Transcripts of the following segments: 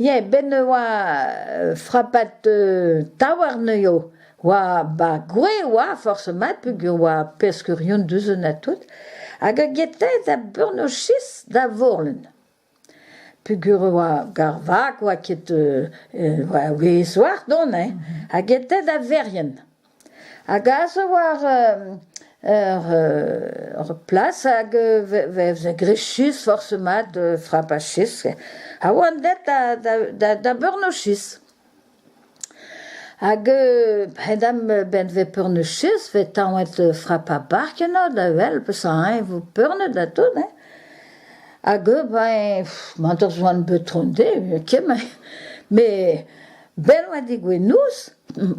Yeah, ben oa euh, frapat euh, taouarn eo. Oa ba gwez oa forsomat peogwir oa peskerion deus un atout hag eo get aet da Bournochis da Vorlen peogwir e oa gar vak oa ket oa ouez oac'h dont hein ha get aet da Verrien hag aze zo war ur plas hag vez rechus forsomat frapachis ha oan aet da Bournochis. Hag p'en em benvez peurnichus vez taonet frapa bark eno da wel peseurt-eñ vo peurnet ha tout hein. Hag eu ben mañ deus c'hoant beutron dezhe kement met bell oa dit gouenouz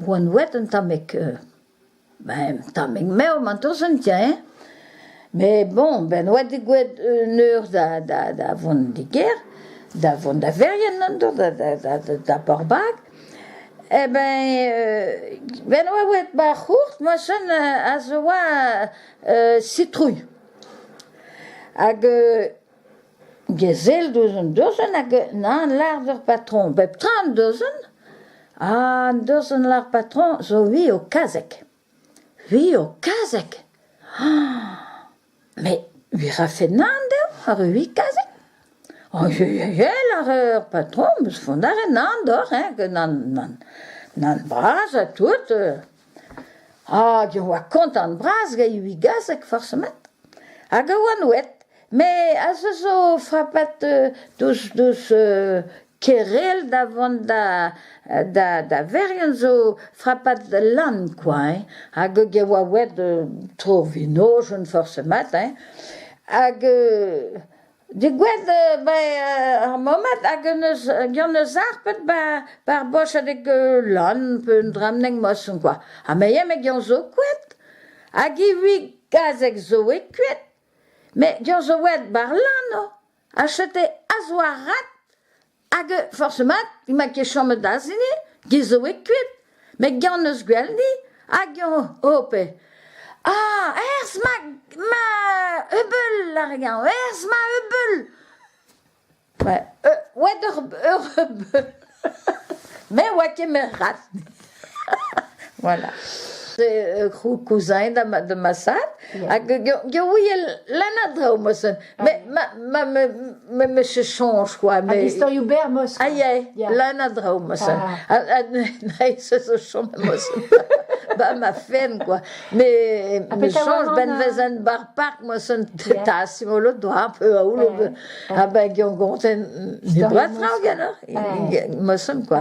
oan wet un tammig. Ben tammig m'eo mantosen tiens, mais bon ben oa degouezhet un eur da da da vont d'e gêr, da vont da Verrien an-dro da da da da da Porbag, eh ben ben oa bet ma c'hourt moachen a zo oa citrouilh hag Gesell deus un dosenn hag nan lar d'ur patron bep tra un dosenn ha an dosenn lar patron zo vi o kazeg, vi o kazeg met vi rafe nan dezho ar vi kazeg aojeieiei ar ur patron 'm eus font a ret nan doc'h hein, nan nan bras ha tout. Hag e oa kontant-bras gant e wigazeg forsemet hag a oa nouet met aze zo frapat deus deus Kerel da vont da da da Verien zo frapat lan kwa hein hag e oa ouet tro vinoz forsemet hein hag Degouezh bai ar mammed hag un eus gant eus ar pet ba bar bochadeg lann pe un dramneg moson kwa. Ha me eo met gant zo koed hag ivez gazeg zo eo koed met gant zo oet bar lann oh ha chete a zo ar rat. Hag euh, forc'h-mat emañ ket chomet aze-ni, ge zo eo kuit, met gaou 'neus gwell ni, hag oh oh pe ah herz ma ma Hubble ar gaou, herz ma Hubble! Ouais, euh, oa d'ur ur Hubble, me oa ket met rat. Voilà. Kouzañet da massaat hag Gaouiel lan a-draoù mosen. Me meche soñj kwa. Hag istorioù berr mosen. Aïe aïe, lan a-draoù mosen. Ha naïs ez o chom mosen. Ba ma fen kwa. Me soñj ben vezen bar park mosen ta simolo doa peu aoul. Ha ben gyon gonten ni doa traoù genoc'h mosen kwa.